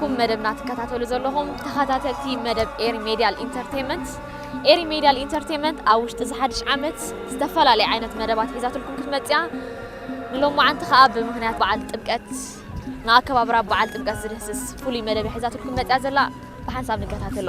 ኩም መደብና ትከታተሉ ዘለኹም ተኸታተልቲ መደብ ኤሪ ሜዲያል ኢንተርቴንመንት ኤሪ ሜዲያል ኢንተርቴንመንት ኣብ ውሽጢ እዚ ሓድሽ ዓመት ዝተፈላለየ ዓይነት መደባት ሒዛትልኩም ክትመፅያ ንሎማዓንቲ ከዓ ብምክንያት በዓል ጥምቀት ንኣከባብራ በዓል ጥምቀት ዝድህስስ ፍሉይ መደብ ሒዛትልኩም መፅያ ዘላ ብሓንሳብ ንከታተሎ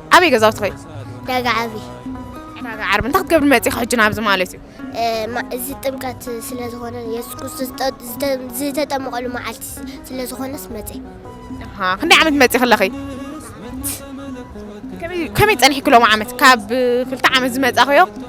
ኣበይ ገዛውትኸ እዩ ዳጋ ዓብዪ ዕዳጋ ዓርቢ እንታይ ክትገብሪ መፂኺ ሕጂ ናብዚ ማለት እዩ እ፣ ማ- እዚ ጥምቀት ስለ ዝኾነ የሱስ ክርስቶስ ዝጠ- ዝተ- ዝተጠመቐሉ መዓልቲ ስለ ዝኾነስ መፀ ኣሃ፣ ክንደይ ዓመት መፂኺ ኣለኺ ከመይ- ከመይ ፀኒሕኪ ሎሚ ዓመት ካብ ክልተ ዓመት ዝመፃኺዮ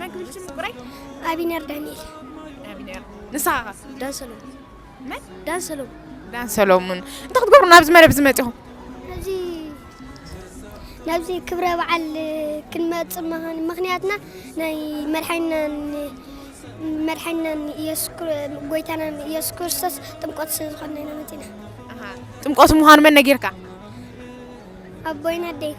መግቢ ሽም ምቁራይ ኣቢነር ዳንኤል ኣቢነር ንስኻ ዳን ሰሎሙን መን ዳን ሰሎሙን ዳን ሰሎሙን እንታይ ክትገብሩ ናብዚ መደብ እዚ መፂኹም ናብዚ ናብዚ ክብረ በዓል ክንመፅእ ምክንያትና ናይ መድሓኒናን መድሓኒናን ጎይታናን ኢየሱስ ክርስቶስ ጥምቆት ስለ ዝኾንና ኢና መፂና ጥምቆት ምዃኑ መን ነጊርካ ኣቦይን ኣደይን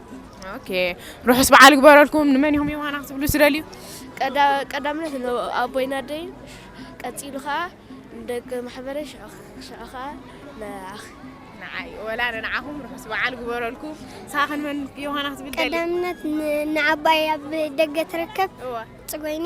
ኦኬ ርሑስ በዓል ይግበረልኩም። ንመን ኢኹም ዮሃና ክትብሉ ትደልዩ? ቀዳ- ቀዳምነት ንኣቦይን ኣደይን ቀፂሉ ከዓ ንደቂ ማሕበረይ ሽዑ ሽዑ ከዓ ንዓኺ ንዓይ ወላ ንዓኹም ርሑስ በዓል ግበረልኩም። ንስኻ ከ ንመን ዮሃና ክትብል ትደሊ? ቀዳምነት ን- ንዓባይ ኣብ ደገ ትርከብ እወ ፅጎይኒ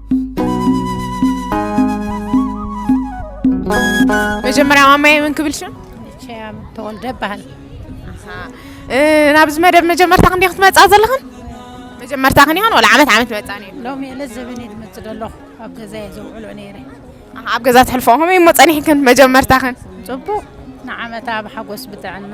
መጀመርያ ማማየ መን ክብል ሽም ሸያም ተወልደ ይበሃል እ፣ ናብዚ መደብ መጀመርታ ክንዲ ክትመፃ ዘለኽን መጀመርታ ክን ይኸን ወላ ዓመት ዓመት መፃ ነይሩ ሎሚ ዕለት ዘበን እየ ዝመፅእ ዘለኹ ኣብ ገዛ እየ ዘውዕሎ ነይረ ኣሃ፣ ኣብ ገዛ ትሕልፎ ከመይ እሞ ፀኒሕክን መጀመርታ ክን ፅቡቕ ንዓመታ ብሓጎስ ብጥዕና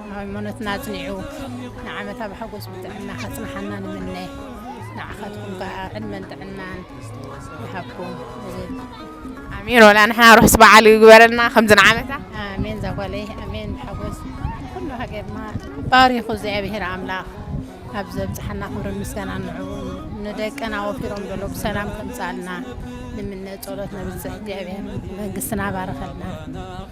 ሃይማኖትና ኣጽኒዑ ንዓመታ ብሓጎስ ብጥዕና ከጽንሓና ንምነ ንዓኻትኩም ከኣ ዕድመን ጥዕናን ይሃብኩም ንብል ኣሜን ወላ ንሕና ርሑስ በዓል ይግበረልና ከምዚ ንዓመታ ኣሜን ዘጓለይ ኣሜን ብሓጎስ ኩሉ ሃገርና ባሪኹ እግዚኣብሔር ኣምላኽ ኣብ ዘብፅሓና ክብርን ምስጋና ንዑ ንደቅና ወፊሮም ዘሎ ብሰላም ከምፃልና ንምነ ጸሎት ነብዝሕ እግዚኣብሔር መንግስትና ባረኸልና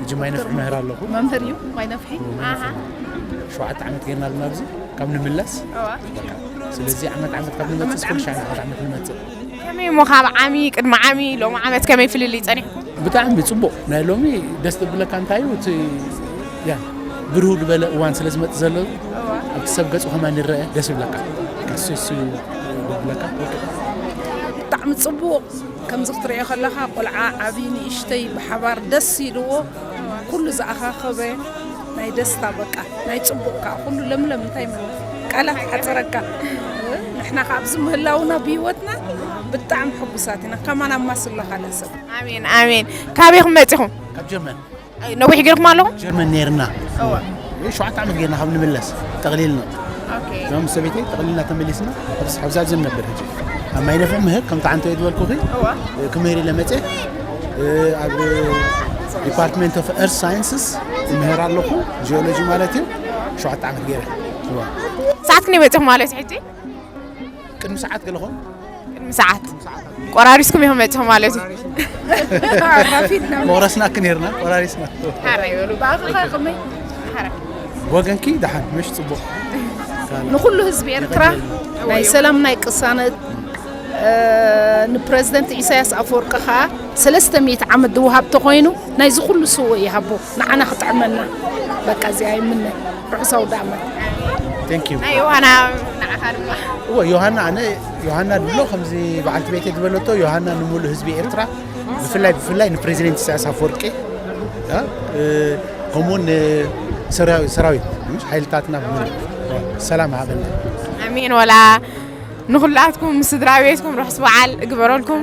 ሕጂ ማይ ነፍሒ መህር ኣለኹ መምህር እዩ ማይ ነፍሒ ሸውዓተ ዓመት ጌርና ኣለና ኣብዚ ካብ ንምለስ ስለዚ ዓመት ዓመት ካብ ንመፅእ ኩሉ ሻዕ ዓመት ዓመት ንመፅእ ከመይ እሞ ካብ ዓሚ ቅድሚ ዓሚ ሎሚ ዓመት ከመይ ፍልልይ ፀኒሕኩም ብጣዕሚ ፅቡቕ ናይ ሎሚ ደስ ዝብለካ እንታይ እዩ እቲ ያ ብርሁ ዝበለ እዋን ስለ ዝመፅእ ዘሎ ኣብቲ ሰብ ገፁ ከማን ይረአ ደስ ይብለካ ቀስሱ ይብለካ ብጣዕሚ ፅቡቕ ከምዚ ክትርእዮ ከለኻ ቆልዓ ዓቢ ንእሽተይ ብሓባር ደስ ኢልዎ ኩሉ ዝኣኻኸበ ናይ ደስታ በቃ ናይ ጽቡቕ ከኣ ኩሉ ለምለም እንታይ ማለት ቃላት ይሓጽረካ ንሕና ከኣ ኣብዚ ምህላውና ብሂወትና ብጣዕሚ ሕጉሳት ኢና ከማን ኣማስሎ ካልእ ሰብ ኣሜን ኣሜን ካበይ ኢኹም መጺኹም ካብ ጀርመን ነዊሕ ጌርኩም ኣለኹም ጀርመን ነርና ሸውዓተ ዓመት ጌርና ካብ ንመለስ ጠቕሊልና እዞም ሰበይተይ ጠቕሊልና ተመሊስና ኣብዚ ኣብዚ ኣብዚ ንነብር ሕጂ ኣብ ማይ ነፍዕ ምህር ከምቲ ዓንተ ዝበልኩኺ ክምህር ኢለ መፅእ ኣብ ዲፓርትመንት ኦፍ ኤርት ሳይንስስ ይምህር ኣለኹ ጂኦሎጂ ማለት እዩ ሸውዓተ ዓመት ገይረ ሰዓት ክንደይ በፂኹም ማለት እዩ ሕጂ ቅድሚ ሰዓት ገለ ኾን ቅድሚ ሰዓት ቆራሪስኩም ኢኹም መጺኹም ማለት እዩ መቑረስናክ ነርና ቆራሪስና ሓራ ይበሉ ብኣፍኻ ከመይ ሓራ ወገንኪ ደሓን ምሽ ጽቡቕ ንኩሉ ህዝቢ ኤርትራ ናይ ሰላም ናይ ቅሳነት ንፕረዚደንት ኢሳያስ ኣፈወርቂ ከዓ ሰለስተ ሚእቲ ዓመት ዝወሃብ ተኮይኑ ናይዚ ኩሉ ስውእ ይሃቦ ንዓና ክጥዕመና በቃ እዚኣ ይምነ ርሑስ ኣውዳኣመት ቴንክ ዩ ናይ ዮሃና ንዓኻ ድማ እወ ዮሃና ኣነ ዮሃና ድብሎ ከምዚ በዓልቲ ቤተይ ዝበለቶ ዮሃና ንምሉእ ህዝቢ ኤርትራ ብፍላይ ብፍላይ ንፕሬዚደንት ኢሳያስ ኣፈወርቂ እ፣ እ፣ ከምኡውን ንሰራዊ- ሰራዊት ምስ ሓይልታትና ብምሉእ ሰላም ሃበና ኣሜን ወላ ንኹላትኩም ምስ ስድራ ቤትኩም ርሑስ በዓል እግበረልኩም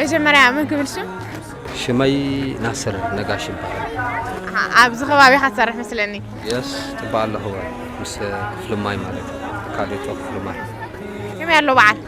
መጀመርያ መን ክብል ሽም ሽመይ ናስር ነጋሽ ይበሃል ኣብዚ ከባቢኻ ትሰርሕ መስለኒ የስ ትበኣለኹ ምስ ክፍሊ ማይ ማለት እዩ ካልኦቶ ክፍሊ ማይ ከመይ ኣሎ በዓል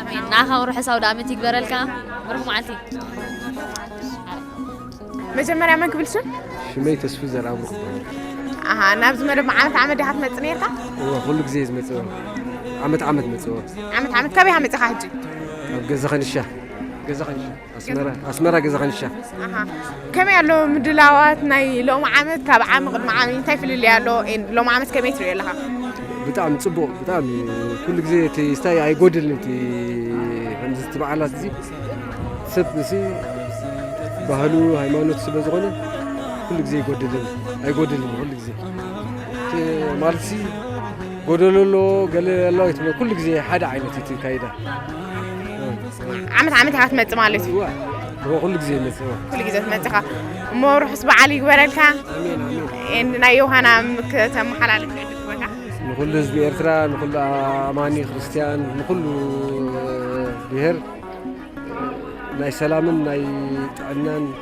ኣሜን ንዓኻ ውን ርሑስ ኣውዳኣመት ይግበረልካ ብሩኽ መዓልቲ መጀመርያ መን ክብል ሽም ሽመይ ተስፉ ዘርኣሙ ክበሃል ኣሃ ናብዚ መደብ መዓልቲ ዓመት ዲኻ ትመፅእ ነርካ እወ ኩሉ ግዜ ዝመፅኦ ዓመት ዓመት መፅኦ ዓመት ዓመት ካበይ ሃመፅኻ ሕጂ ካብ ገዛ ከንሻ ገዛ ከንሻ ኣስመራ ገዛ ከንሻ ከመይ ኣሎ ምድላዋት ናይ ሎሚ ዓመት ካብ ዓሚ ቅድሚ ዓሚ እንታይ ፍልልይ ኣሎ ሎሚ ዓመት ከመይ ትሪኦ ኣለኻ ብጣዕሚ ፅቡቕ ብጣዕሚ ኩሉ ግዜ እቲ ስታይ ኣይጎድልን እቲ ከምዚ እቲ በዓላት እዚ ሰብ እዚ ባህሉ ሃይማኖት ስለ ዝኾነ ኩሉ ግዜ ይጎድልን ኣይጎድልን ኩሉ ግዜ ማለት ጎደሎ ኣሎ ገለ ኣሎ ኣይትብሎ ኩሉ ግዜ ሓደ ዓይነት እዩ እቲ ካይዳ ዓመት ዓመት ኢኻ ትመፅእ ማለት እዩ እወ ኩሉ ግዜ ይመፅእ እወ ኩሉ ግዜ ትመፅኻ እሞ ርሑስ በዓል ይግበረልካ እን ናይ ዮሃና ከተመሓላልፍ ዕድል ዝበካ ንኩሉ ህዝቢ ኤርትራ ንኩሉ ኣማኒ ክርስትያን ንኩሉ ብሄር ናይ ሰላምን ናይ ጥዕናን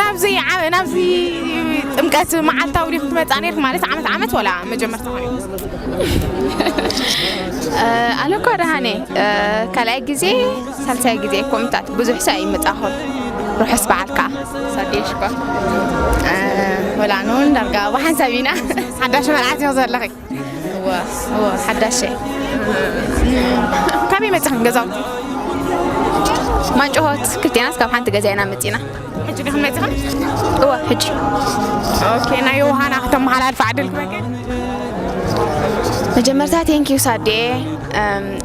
ናብዚ ዓ- ናብዚ ጥምቀት መዓልታዊ ዲኹም ትመጻ ነርክ ማለት ዓመት ዓመት ወላ መጀመርታ ኮይኑ ኣነ እኳ ደሃነ ካልኣይ ግዜ ሳልሳይ ግዜ ኮምታት ብዙሕ ሰ ኣይምጻኹን ርሑስ በዓል ከዓ ሳዴሽ እኳ ወላ ንውን ዳርጋ ብሓንሳብ ኢና ሓዳሽ መልዓት ኢኹ ዘለኺ ሓዳሸይ ካበይ መፅኽን ገዛውቲ ማንጭሆት ክልቴናስ ካብ ሓንቲ ገዛ ኢና መፂና ሕጂ ዲኹም መፅኽን እወ ሕጂ ኦኬ ናይ ዮሃና ከተመሓላልፍ ዓድል መጀመርታ ቴንኪዩ ሳዴ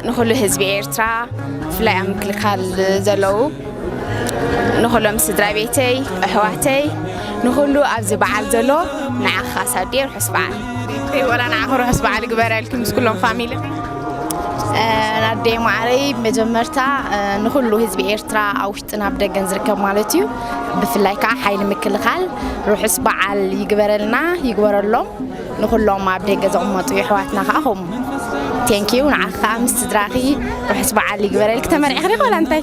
ንኩሉ ህዝቢ ኤርትራ ብፍላይ ኣብ ምክልካል ዘለዉ ንኩሎም ስድራ ቤተይ ኣሕዋተይ ንኩሉ ኣብዚ በዓል ዘሎ ንዓኻ ሳዴ ርሑስ በዓል ኣዴተይ ወላ ንዓኹም ርሑስ በዓል ይግበረልኪ ምስ ኩሎም ፋሚሊኺ ኣደይ ማዕረይ መጀመርታ ንኩሉ ህዝቢ ኤርትራ ኣብ ውሽጥን ኣብ ደገን ዝርከብ ማለት እዩ ብፍላይ ከዓ ሓይሊ ምክልኻል ርሑስ በዓል ይግበረልና ይግበረሎም ንኩሎም ኣብ ደገ ዘቕመጡ የሕዋትና ከዓ ከምኡ ቴንኪዩ ንዓኺ ከዓ ምስ ስድራኺ ርሑስ በዓል ይግበረልኪ ተመርዒኺ ዲኺ ዋላ እንታይ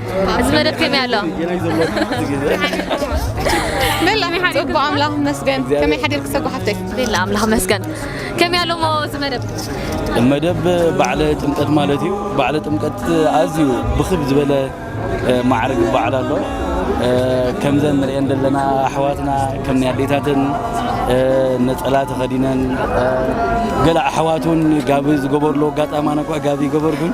እዚ መደብ ከመይ ኣሎ ቤላ ፅቡቅ ኣምላኽ መስገን ከመይ ሓዲርክ ሰጉ ሓፍተይ ቤላ ኣምላኽ መስገን ከመይ ኣሎ ሞ እዚ መደብ መደብ በዓለ ጥምቀት ማለት እዩ በዓለ ጥምቀት ኣዝዩ ብክብ ዝበለ ማዕርግ በዓል ኣሎ ከምዘን ንሪኤን ዘለና ኣሕዋትና ከም ናይ ኣዴታትን ነፀላ ተኸዲነን ገለ ኣሕዋት እውን ጋቢ ዝገበርሉ ኣጋጣሚ ኣነ እኳ ጋቢ ይገበርኩን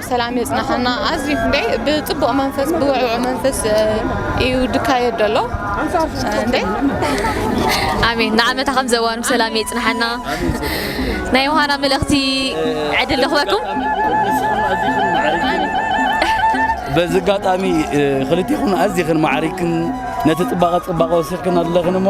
ሰላም የጽናሓና ኣዝዩ እንዴ ብጽቡቕ መንፈስ ብውዕውዕ መንፈስ እዩ ድካየድ ደሎ እንዴ ኣሜን ንዓመታ ከም ዘዋኑ ሰላም የጽናሓና ናይ ዮሃና መልእኽቲ ዕድል ንኽበኩም በዚ ኣጋጣሚ ክልቴኹን ኣዚኽን ማዕሪግክን ነቲ ጽባቐ ጽባቐ ወሲኽክን ኣለኽን እሞ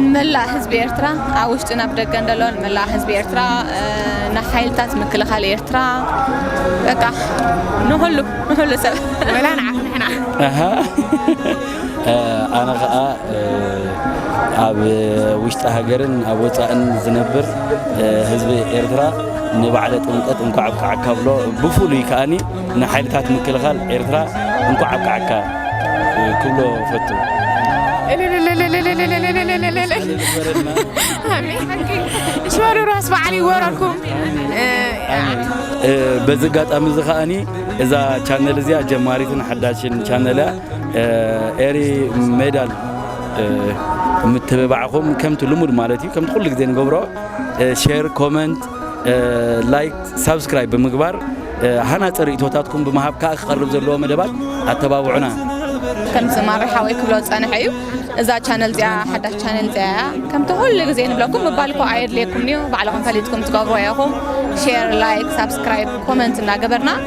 ንመላእ ህዝቢ ኤርትራ ኣብ ውሽጥን ኣብ ደገን ዘሎ ንመላእ ህዝቢ ኤርትራ ንሓይልታት ምክልኻል ኤርትራ በቃ ንኹሉ ንኹሉ ሰብ ወላ ንዓኹም ንሕና ኣነ ከዓ ኣብ ውሽጢ ሃገርን ኣብ ወፃእን ዝነብር ህዝቢ ኤርትራ ንበዓለ ጥምቀት እንኳዕ ኣብቅዓካ ብሎ ብፍሉይ ከዓኒ ንሓይልታት ምክልኻል ኤርትራ እንኳዕ ኣብቅዓካ ክብሎ ፈቱ። ሽወሩ ራስ በዓል ይወረኩም። በዚ ኣጋጣሚ እዚ ከዓኒ እዛ ቻነል እዚኣ ጀማሪትን ሓዳሽን ቻነል እያ ኤሪ ሜዳል ምትብባዕኹም ከምቲ ልሙድ ማለት እዩ ከምቲ ኩሉ ግዜ ንገብሮ ሼር ኮመንት ላይክ ሳብስክራይብ ብምግባር ሃናፀ ርእቶታትኩም ብምሃብ ከዓ ክቐርብ ዘለዎ መደባት ኣተባብዑና። ከምዚ ማሪ ሓወይ ክብሎ ዝፀንሐ እዩ እዛ ቻነል እዚኣ ሓዳሽ ቻነል እዚኣ እያ ከምቲ ኩሉ ግዜ ንብለኩም ምባል እኮ ኣየድልየኩም እዩ ባዕልኹም ፈሊጥኩም ትገብርዎ ኢኹም ሼር ላይክ ሳብስክራይብ ኮመንት እናገበርና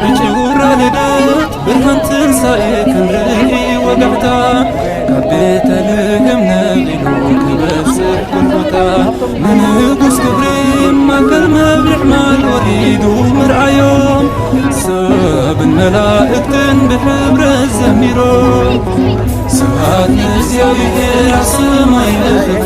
ብጭውራ ልደት ብርሃን ትንሳኤ ክንርኢ ወጋሕታ ካብ ቤተልሔም ነቒሉ ክበጽሕ ጎልጎታ ንንጉስ ክብሪ ማእከል መብርሕ ማይ ወሪዱ ምርኣዮም ሰብን መላእክትን ብሕብረት ዘሚሮም ስብሓት ንእግዚኣብሔር ኣብ ሰማይ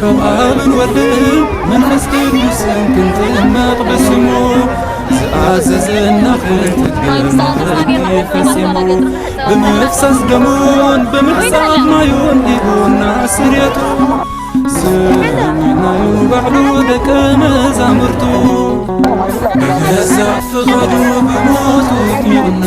ካብ ኣብን ወልድን መንፈስ ቅዱስን ክንጥመቕ ብስሙ ዝኣዘዘና ክትግበር ፈጺሙ ብምፍሳስ ደሙን ብምሕሳብ ማዩን ሂቡና ስርየቱ ዝምናዩ ባዕሉ ደቀ መዛሙርቱ ብገዛእ ፍቓዱ ብሞቱ ሂቡና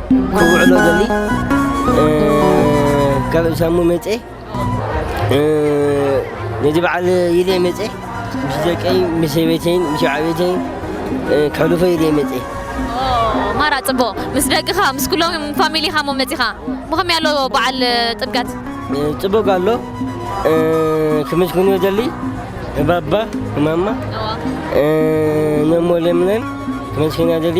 ክውዕሎ ደሊ ካብ እሳሙ መፀ ነዚ በዓል ይለ መፀ ምስ ደቀይ ምስ ሰበይተይን ምስ ዓበይተይን ከሕልፎ ይለ መፀ ማራ ፅቡቕ ምስ ደቅኻ ምስ ኩሎም ፋሚሊኻ ሞ መፂኻ ብኸመይ ኣሎ በዓል ጥምቀት ፅቡቅ ኣሎ ክምስግን ደሊ ባባ ማማ ነሞ ለምለም ክመስግና ደሊ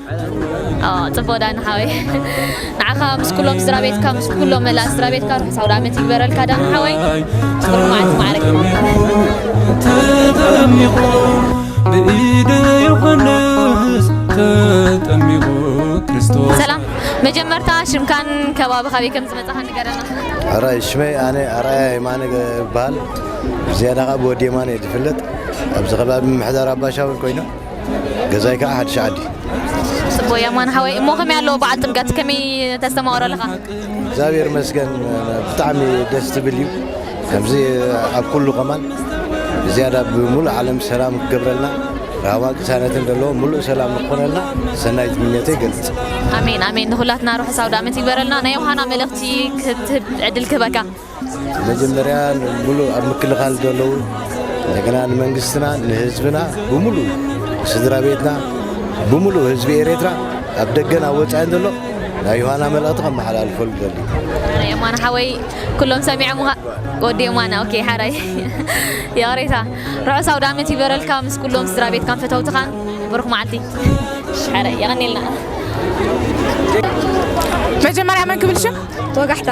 ፅቡቅ ዳኒ ሓወይ ንዓኻ ምስ ኩሎም ስድራ ቤትካ ምስ ኩሎም መላእ ስድራ ቤትካ ርሑስ ኣውዳኣመት ይግበረልካ ዳኒ ሓወይ ብሩኽ መዓልቲ ማዕረግ ተጠሚቑ ብኢደ ዮሐንስ ተጠሚቑ ክርስቶስ ሰላም መጀመርታ ሽምካን ከባቢ ካበይ ከም ዝመፃኻ ንገረና ሕራይ ሽመይ ኣነ ኣርኣያ የማነ ይበሃል ብዝያዳ ከዓ ብወዲ የማነ እየ ዝፍለጥ ኣብዚ ከባቢ ምሕደር ኣባሻውል ኮይኑ ገዛይ ከዓ ሓድሽ ዓዲ ጽቡቅ የማን ሓወይ እሞ ከመይ ኣለዎ በዓል ጥምቀት ከመይ ተስተማወሮ ኣለኻ እግዚኣብሔር መስገን ብጣዕሚ ደስ ትብል እዩ ከምዚ ኣብ ኩሉ ከማን ብዝያዳ ብምሉእ ዓለም ሰላም ክገብረልና ራህዋ ቅሳነትን ዘለዎ ምሉእ ሰላም ንክኾነልና ሰናይ ትምኘተ ይገልጽ ኣሜን ኣሜን ንኩላትና ርሑስ ኣውደ ኣመት ይግበረልና ናይ ዮሃና መልእኽቲ ክትህብ ዕድል ክህበካ መጀመርያ ንሙሉእ ኣብ ምክልኻል ዘለዉ እንደገና ንመንግስትና ንህዝብና ብሙሉኡ ስድራ ቤትና ብሙሉእ ህዝቢ ኤሬትራ ኣብ ደገን ኣብ ወጻኢን ዘሎ ናይ ዮሃና መልእኽቲ ከመሓላልፈሉ ደሊ ናይ የማነ ሓወይ ኩሎም ሰሚዖምኻ ወዲ የማነ ኦኬ ሓራይ ይቕሬታ ርሑስ ኣውደ ዓመት ይበረልካ ምስ ኩሎም ስድራ ቤትካን ፈተውትኻን ብሩኽ መዓልቲ ሓራይ የቐኒልና መጀመርያ መን ክብል ሽም ወጋሕታ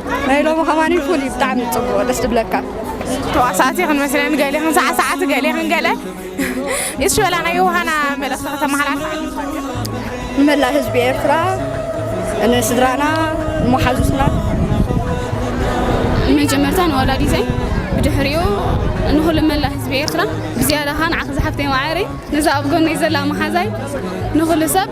ናይ ሎሚ ከማን ይፉል እዩ ብጣዕሚ ጽቡቅ ደስ ድብለካ ተዋሳእቲ ክንመስለን ገሊ ክንሳዕሳዕቲ ገሊ ክንገለ እሱ ወላ ናይ ውሃና መልእኽቲ ከተመሓላልፍ ንመላ ህዝቢ ኤርትራ ንስድራና ንመሓዙትና መጀመርታ ንወላዲተይ ብድሕሪኡ ንኹሉ መላ ህዝቢ ኤርትራ ብዝያዳ ኸዓ ንዓኺ ዝሓፍተይ ማዓረይ ነዛ ኣብ ጎነይ ዘላ መሓዛይ ንኹሉ ሰብ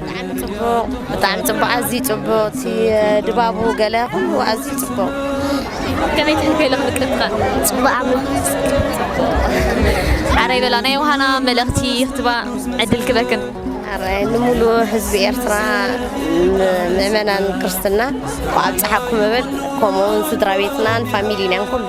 ብጣዕሚ ጽቡቕ ብጣዕሚ ጽቡቕ ኣዝዩ ጽቡቕ እቲ ድባቡ ገለ ኩሉ ኣዝዩ ጽቡቕ ከመይ ትሕልፊ ኣለኺ ምቅርትኻ ጽቡቕ ኣመልክት ሓረይ በላ ናይ ውሃና መልእኽቲ ክትባ ዕድል ክበክን ኣራይ ንሙሉ ህዝቢ ኤርትራ ምእመናን ክርስትና ብዓል ጸሓኩም እብል ከምኡውን ስድራ ቤትናን ፋሚሊናን ኩሉ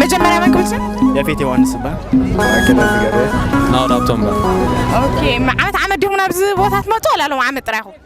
መጀመርያ መን ክብል ስም ያፌት ዮሐንስ ይባል ናውድ ሃብቶም ይባል ኦኬ ዓመት ዓመት ዲኹም ናብዚ ቦታ ትመፁ ወላ ሎም ዓመት ጥራይ ኢኹም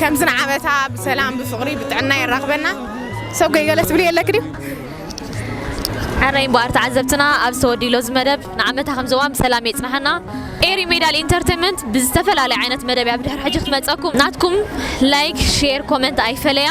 ከምዚ ንዓመታ ብሰላም ብፍቕሪ ብጥዕና የራኽበና ሰጎይ ገለ ትብልዮ ኣለኪ ድዩ? ሕራይ እምበኣር ተዓዘብትና ኣብዚ ተወዲኡሎ እዚ መደብ ንዓመታ ከምዚ እዋን ብሰላም የጽንሓና። ኤሪ ሜዳል ኢንተርተመንት ብዝተፈላለየ ዓይነት መደብ እያ ብድሕሪ ሕጂ ክትመጸኩም ናትኩም ላይክ ሼር ኮመንት ኣይፈለያ።